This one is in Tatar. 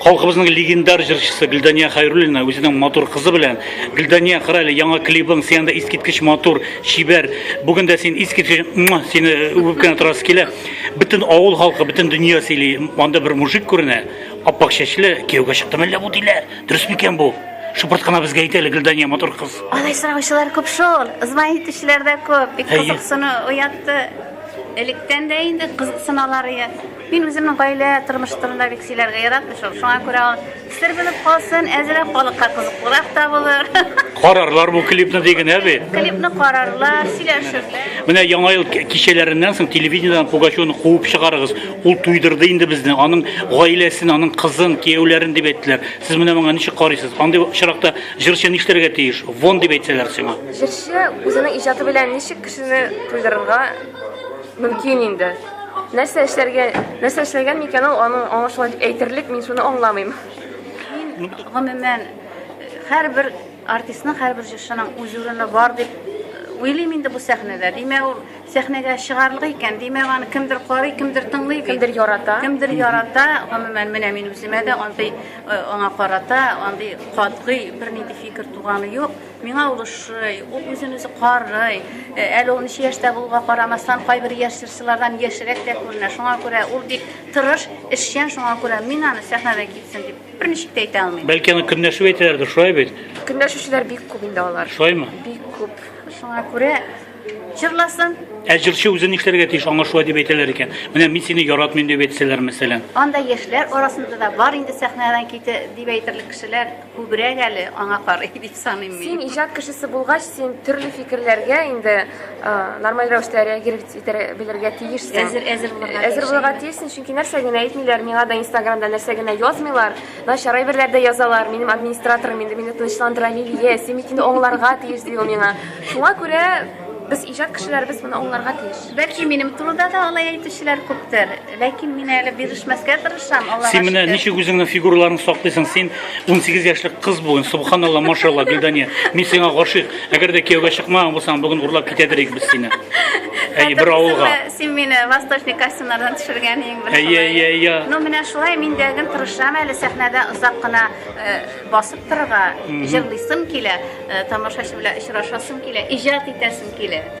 Халкыбызның легендар җырчысы Гөлдания Хайруллина үзенең матур кызы белән Гөлдания кара әле яңа клибың сианда искиткеч матур, чибәр. Бүген дә син искиткеч муа, сине үбеп кенә торасы килә. Бөтен авыл халкы, бөтен дөнья сөйли. Анда бер мужик күренә, аппак чәчле, кияүгә чыкты мәллә бу диләр. Дөрес микән бу? Шыпырт кына безгә әйт әле Гөлдания матур кыз. Алай сораучылар күп шул. Ызмай итүчеләр дә күп. Бик Әйе. кызыксыну уятты. Электән дә инде кызыксыналар ия. Мин үземнең гаилә тормыш турында бик сөйләргә яратмый шул. Шуңа күрә ул сер булып калсын, әзрәк халыкка кызыклырак та булыр. Карарлар бу клипны ди генә бит. Клипны карарлар, сөйләшерләр. Менә яңа ел кичәләреннән соң телевидениедән Пугачевны куып чыгарыгыз. Ул туйдырды инде безне, аның гаиләсен, аның кызын, кияүләрен дип әйттеләр. Сез менә моңа ничек карыйсыз? Андый очракта җырчы нишләргә тиеш? Вон дип әйтсәләр сиңа. Җырчы үзенең иҗаты белән ничек кешене туйдырырга Мөмкин инде. Нәрсә эшләргә, нәрсә эшләгән микән ул, аны аңа шулай дип әйтерлек, мин шуны аңламыйм. Мин гомумән һәрбер артистның, һәрбер җырчының үз урыны бар дип уйлыйм инде бу сәхнәдә. Димәк, ул сәхнәгә чыгарлык икән. Димәк, аны кемдер карый, кемдер тыңлый, кемдер ярата. Кемдер ярата. Гомумән, менә мин үземә дә андый аңа карата андый катгый бернинди фикер туганы юк. Миңа ул ошый, ул үзен үзе карый. Э, әле ул ничә яшьтә булуга карамастан, кайбер яшь җырчылардан яшьрәк тә күренә. Шуңа күрә ул бик тырыш, эшчән, шуңа күрә мин аны сәхнәдә китсен дип берничек тә әйтә алмыйм. Бәлки аны көнләшү әйтәләрдер, шулай бит? Көнләшүчеләр бик күп инде алар. Шулаймы? Бик күп. Шуңа күрә җырласын. Ә җырчы үзе нишләргә тиеш, аңа шулай дип әйтәләр икән. Менә мин сине яратмыйм дип әйтсәләр, мәсәлән. Анда яшьләр арасында да бар инде сәхнәдән ките дип әйтерлек кешеләр. Күбрәк әле аңа карый дип саныйм мин. Син иҗат кешесе булгач, син төрле фикерләргә инде нормаль рәвештә реагировать итә белергә тиешсең. Әзер әзер булырга. Әзер булырга тиешсең, чөнки нәрсә генә әйтмиләр, миңа да Инстаграмда нәрсә генә язмыйлар. Начар әйберләр дә язалар. Минем администраторым инде мине тынычландыра, Лилия, син бит инде аңларга тиеш ди ул миңа. Шуңа күрә Без иҗат кешеләребез моны аңларга тиеш. Бәлки минем турыда да алай әйтүчеләр күптер, ләкин мин әле бирешмәскә тырышам. Аллага Син менә ничек үзеңне фигураларын саклыйсың? Син 18 яшьлек кыз буын, субханалла, машалла, Гөлдания. Мин сиңа гашыйк. Әгәр дә кияүгә чыкмаган булсаң, бүген урлап китәдер идек без сине. Әйе, бер авылга. Син мине восточный костюмнардан төшергән иң беренче. Әйе, әйе, әйе. Ну, менә шулай мин дә гел тырышам әле сәхнәдә озак кына э, Басып торырга, җырлыйсым килә, э, тамашачы белән очрашасым килә, иҗат итәсем килә.